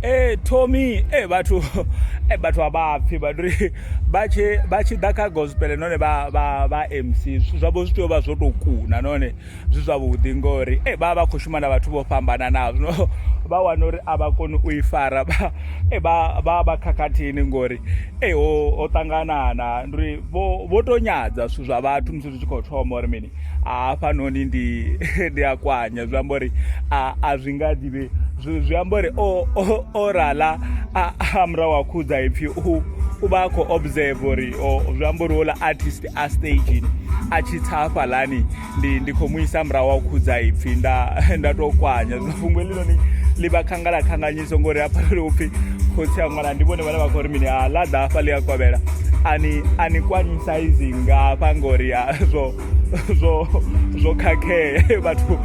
ee tommy e vhathu e vhathu a vha pfhi vhathu ri vha tshi vha tshi ḓa kha gospel none vha vha vha mc zwithu zwavho zwi tea u vha zwo tou kuna none zwi zwavhuḓi ngori e vha vha khou shuma na vhathu vho fhambananaho zwino vha wana uri a vha koni u i fara vha e vha vha vha khakhathini ngori e ho ho ṱanganana ndi uri vho vho to nyadza zwithu zwa vhathu musi zwi tshi khou thoma uri mini hafhanoni ndi ndi a kwanya zwi amba uri a zwi nga ḓivhe zwi amba uri o rala a murahu a khudza ipfhi u u vha a khou observe uri zwi amba uri ola artist a stagini a tshi tsa hafhalani ndi ndi khou mu isa murahu a u khudza ipfhi nda nda tou kwanya fhungo heḽinoni ḽi vha khangala khanganye ndi songo ri hafha ri upfhi khotsi a ṅwana ndi vhone vhane vha khou ri mini a ḽa ḓa hafha ḽi a kovhela ani ani kwanyisa izi nga hafha ngori ya zwo zwo zwo khakhea vhathu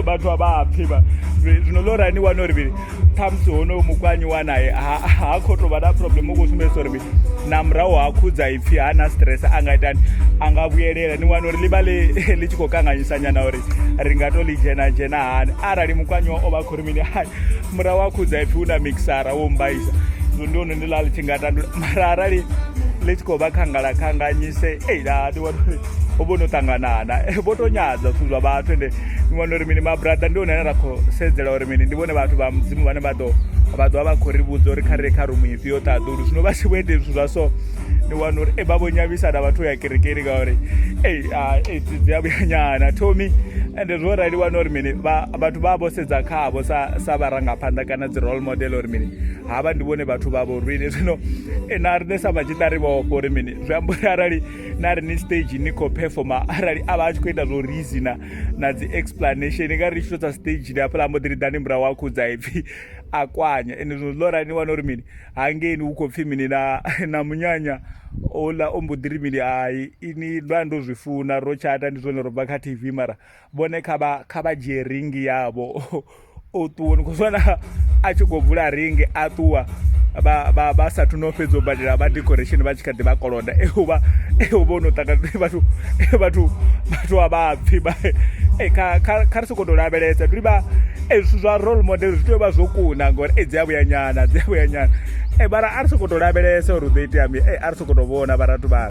vhathu a vha pfhi vha zwino ḽo rani wana uri mini khamusi honoyo mukwanyi wa naye ha khou tou vha na problem u khou sumbedzisa uri mini na murahu ha khudza ipfhi ha na stress a nga itani a nga vhuyelela ni wana uri ḽi vha ḽi tshi khou kanganyisa nyana uri ri nga to ḽi dzhena dzhena hani arali mukwanyiwa o vha khou mini hai mura wa khudza ipfi u na mixara wo mbaisa zwo ndi ono ndi la ḽi tshi nga tandula mara arali ḽi tshi khou vha khangala khanganyise ei la ndi wana uri ho vho no ṱanganana Eh, vho to nyadza zwithu zwa vhathu ende ni wana uri mini mabrada ndi one ane ra khou sedzela uri mini ndi vhone vhathu vha mudzimu vhane vha ḓo vha ḓovha vha khou ri vhudza uri kha ri ye kha rumu ifhio ṱaḓulu zwino vha tshi vho ite zwithu zwa so ni wana uri e vha vho nyavisa na vhathu ya kerekeni ngauri ei ah, ei dzi a vhuyanyana thomi ende zwo rali wana uri mini vha vhathu vha vho sedza khavho sa sa vharangaphanḓa kana dzi role model uri mini ha vha ndi vhone vhathu vha vho rwini zwino eh, na riṋe sa vhatshiṱa ri vhofho uri mini zwi amba uri arali na ri ni stage ni khou performa arali a vha a tshi khou ita zwo rizi na na dzi explanation nga ri tshi to tsa stage ni hafhaḽa mbo ḓi ri ḓani murahu a khudza ipfhi a kwanya ende zwino ḽo rani wana uri mini hangeini hu khou pfhi mini na na munyanya ola o mbo ḓiri mini hai ini lwa ndo zwi funa ro tshata ndi zwone ro bva kha tv mara vhone kha vha kha vha dzhie ringi yavho o ṱuwa ni khou zwana a tshi khou vula ringi a ṱuwa vha sathu no fhedza u badela vha decoration vha tshi kha ḓi vha koloda euvha eu vho no ṱaka vhathu vhathu vhathu a vhapfi eh, kha ri sokoto lavhelesa tuli vha eh, zwithu zwa role model zwi tea u vha zwo kuna ngori e dzi a vhuyanyana dzi a vhuyanyana e mara a ri sokoto lavhelesa uri u ḓo itea mi e a ri sokoto vhona vharathu vha